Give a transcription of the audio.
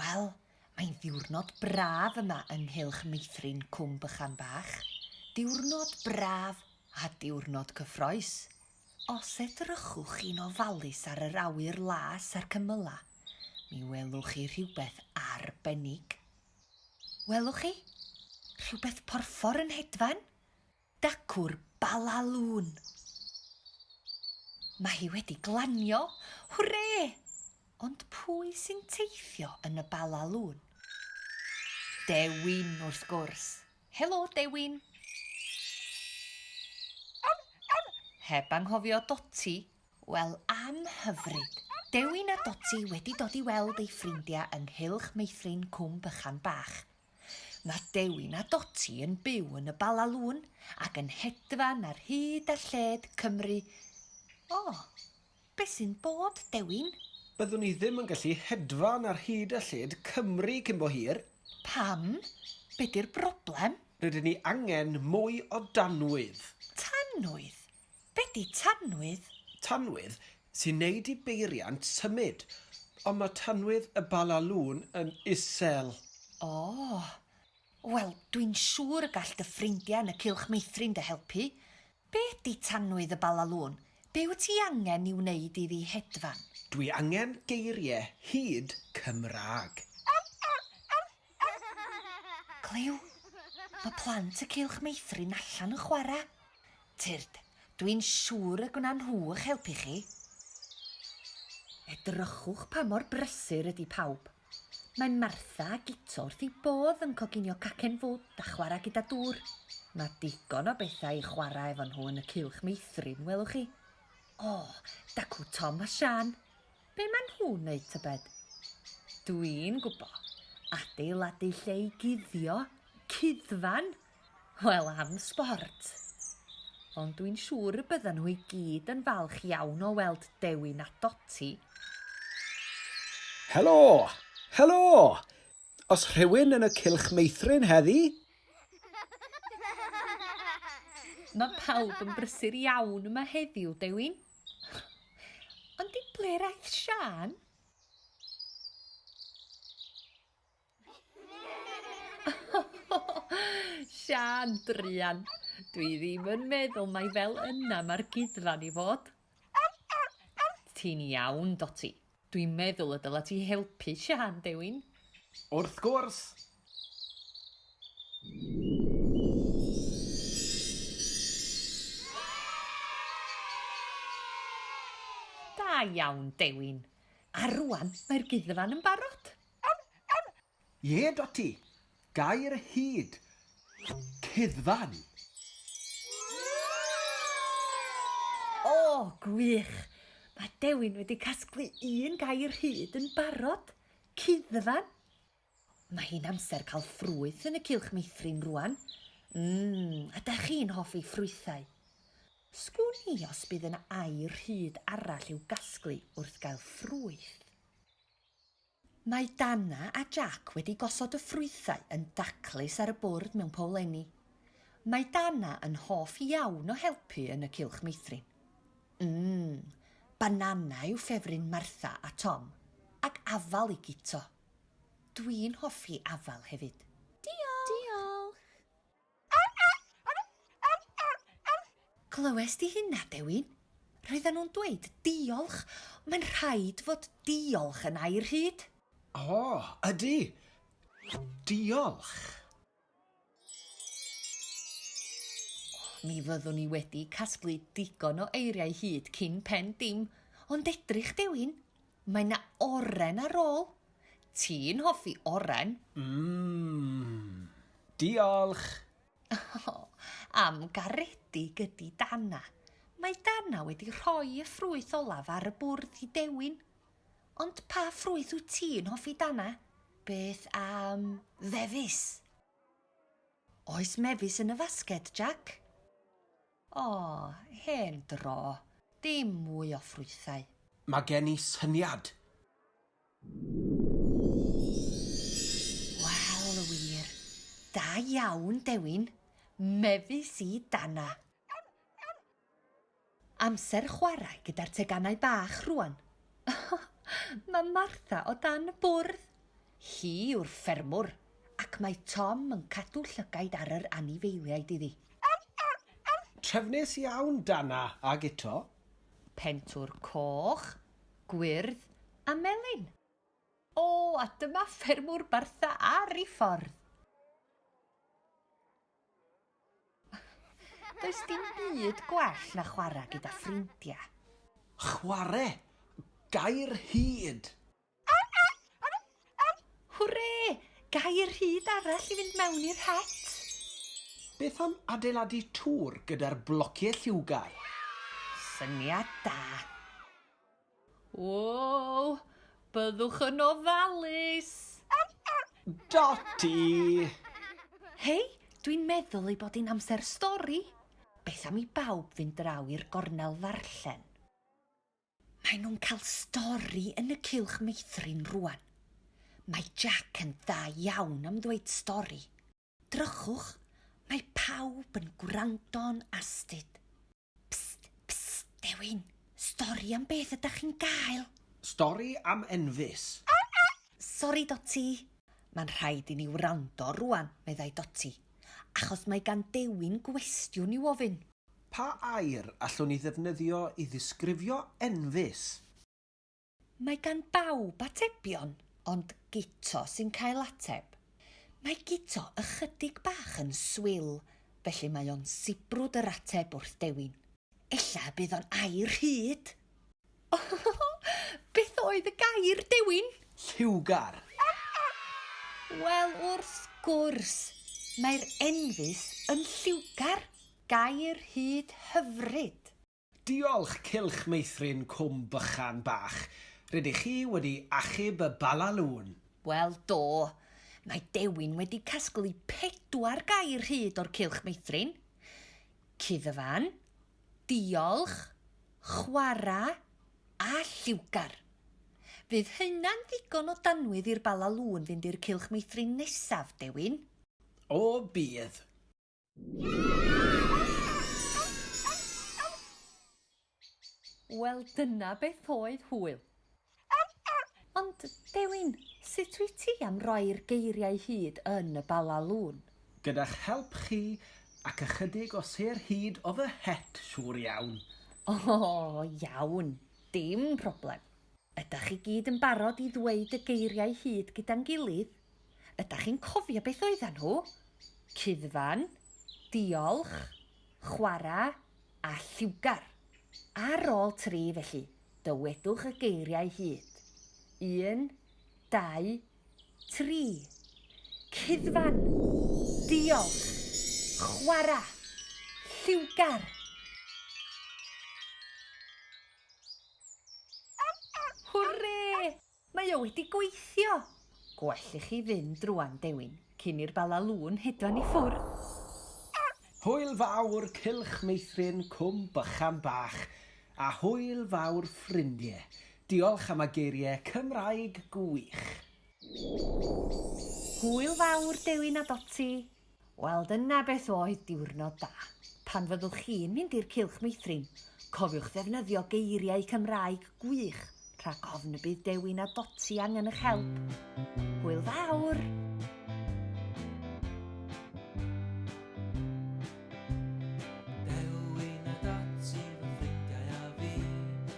Wel, mae'n ddiwrnod braf yma yng nghylch meithrin Cwm Bychan Bach. Diwrnod braf a diwrnod cyffroes. Os edrychwch chi'n ofalus ar yr awyr las a'r cymylau, mi welwch chi rhywbeth arbennig. Welwch chi? Rhywbeth porffor yn hedfan? Dacw'r Bala Lŵn. Mae hi wedi glanio! Hwre! Ond pwy sy'n teithio yn y Bala Lŵn? Dewin, wrth gwrs. Helo, Dewin. Heb anghofio Doti. Wel, am hyfryd. Dewin a Doti wedi dod i weld eu ffrindiau yng nghylch meithrin Cwm Bychan Bach. Mae Dewin a Doti yn byw yn y Bala Lŵn ac yn hedfan ar hyd a lled Cymru. O, beth sy'n bod, Dewin? Byddwn i ddim yn gallu hedfan ar hyd a lled Cymru cyn bo hir. Pam? Be 'di'r broblem? Rydyn ni angen mwy o danwydd. Tanwydd? Be di tanwydd? Tanwydd sy'n neud i beiriant symud. Ond ma tanwydd y Bala Lôn yn isel. Ohh. Wel, dwi'n siŵr y gall dy ffrindia yn y Cylch Meithrin dy helpu. Be di tanwydd y Bala Lôn? Be wyt ti angen i wneud iddi hedfan? Dwi angen geirie hud Cymraeg. Clyw? Mae plant y Cylch Meithrin allan yn chwarae. Tyrd, dwi'n siŵr y gwna nhw ych helpu chi. Edrychwch pa mor brysur ydy pawb. Mae Martha a Guto wrth eu bodd yn coginio cacen fwd a chwarae gyda dŵr. Mae digon o bethau i chwarae efo nhw yn y Cylch Meithrin, welwch chi. O, dacw Tom a Sian. Be maen nhw'n neud tybed? Dwi'n gwbo, adeiladu lle i guddio, cuddfan! Wel am sbort! Ond dwi'n siŵr y byddan nhw i gyd yn falch iawn o weld Dewi na Doti. Helo! Helo! Oes rhywun yn y cylch meithrin heddi? Mae pawb yn brysur iawn yma heddiw, Dewi. Ond i ble raeth Sian? Sian, druan. Dwi ddim yn meddwl mai fel yna mae'r gudfan i fod. Ti'n iawn, Doti. Dwi'n meddwl y dyla ti helpu Siân, Dewin. Wrth gwrs! Da iawn, Dewin. A rŵan mae'r guddfan yn barod. Ie, Dotty! Gair y hud! Cuddfan! O, gwych! Mae Dewin wedi casglu un gair hud yn barod! Cuddfan! Mae hi'n amser cael ffrwyth yn y cylch meithrin rwan. Mm, ydach chi'n hoffi ffrwythau? Sgwn i os bydd yna air hud arall i'w gasglu wrth gael ffrwyth. Mae Dana a Jac wedi gosod y ffrwythau yn daclus ar y bwrdd mewn powlenni. Mae Dana yn hoff iawn o helpu yn y cylch meithrin. Ym, banana yw ffefryn Martha a Tom, ac afal i Guto. Dwi'n hoffi afal hefyd. Diolch! Diolch! Clywes di hynna, Dewin? Roedden nhw'n dweud diolch, ond mae'n rhaid fod diolch yn air hud. O, ydy. Diolch. Mi fyddwn i wedi casglu digon o eiriau hud cyn pen dim, ond edrych, Dewin, Mae 'na oren ar ôl. Ti'n hoffi oren? Mmm. Diolch! O, am garedig ydi Dana. Mae Dana wedi rhoi y ffrwyth olaf ar y bwrdd i Dewin. Ond pa ffrwyth wyt ti'n hoffi Dana? Beth am fefus? Oes mefus yn y fasged, Jac? O, hen dro. Dim mwy o ffrwythau. Mae gen i syniad! Wel, wir. Da iawn, Dewin. Mefus i danna. Amser chwarae gyda'r teganau bach rŵan. Mae Martha o dan y bwrdd. Hi yw'r ffermwr, ac mae Tom yn cadw llygaid ar yr anifeiliaid iddi. Trefnus iawn, Dana, a Guto. Pentwr coch, gwyrdd a melyn. O, a dyma ffermwr Bartha ar ei ffordd! Does dim byd gwell na chwarae gyda ffrindiau. Chwarae! Gair hud! Hwre! Gair hud arall i fynd mewn i'r het! Beth am adeiladu tŵr gyda'r blociau lliwgar? Syniad da! Woow! Byddwch yn ofalus! Dotty! Hei, dwi'n meddwl ei bod hi'n amser stori! Beth am i bawb fynd draw i'r gornel ddarllen? Maen nhw'n cael stori yn y cylch meithrin rwan. Mae Jack yn dda iawn am ddweud stori. Drychwch, mae pawb yn gwrando'n astud. Psst, psst, dewin, stori am beth ydach chi'n gael? Stori am Enfys. Sori, Doti. Mae'n rhaid i ni wrando rwan, meddai Doti, achos mae gan Dewin gwestiwn i'w ofyn. Pa air allwn ni ddefnyddio i ddisgrifio enfys? Mae gan bawb atebion, ond Guto sy'n cael ateb. Mae Guto ychydig bach yn swil, felly mae o'n sibrwd yr ateb wrth dewin. Ella y bydd o'n air rhyd! Beth oedd y gair, Dewin? Lliwgar. Wel, wrth gwrs, mae'r enfys yn lliwgar, gair hud hyfryd. Diolch, Cylch Meithrin Cwm Bychan Bach. Rydych chi wedi achub y Bala Lŵn. Wel, do. Mae Dewin wedi casglu pedwar gair hud o'r Cylch Meithrin. Cuddfan, diolch, chwarae a lliwgar. Fydd hynna'n ddigon o danwydd i'r Bala Lŵn fynd i'r cylch meithrin nesaf, Dewin? O, bydd. Wel, dyna beth oedd hwyl. Ond, Dewin, sut wyt ti am roi'r geiriau hyd yn y Bala Lôn? Gyda'ch help chi, ac ychydig o sêr hud o fy het, siŵr iawn. O, iawn. Dim problem. Ydach chi gyd yn barod i ddweud y geiriau hud gyda'n gilydd? Ydach chi'n cofio beth oeddan nhw? Cuddfan, diolch, chwarae, a lliwgar. Ar ôl tri, felly. Dywedwch y geiriau hyd. Un, dau, tri. Cuddfan! Diolch! Chwarae! Lliwgar! Hwrê! Mae o wedi gweithio! Gwell i chi fynd rwan, Dewin, cyn i'r Bala Lŵn hedfan i ffwrdd! Hwyl fawr, Cylch Meithrin, Cwm Bychan Bach! A hwyl fawr, ffrindie! Diolch am y geirie Cymraeg gwych! Hwyl fawr, Dewin a Doti! Wel, dyna beth oedd diwrnod da. Pan fyddwch chi'n mynd i'r Cylch Meithrin, cofiwch ddefnyddio geiriau Cymraeg gwych rhag ofn y bydd Dewi na Doti angen eich help. Hwyl fawr!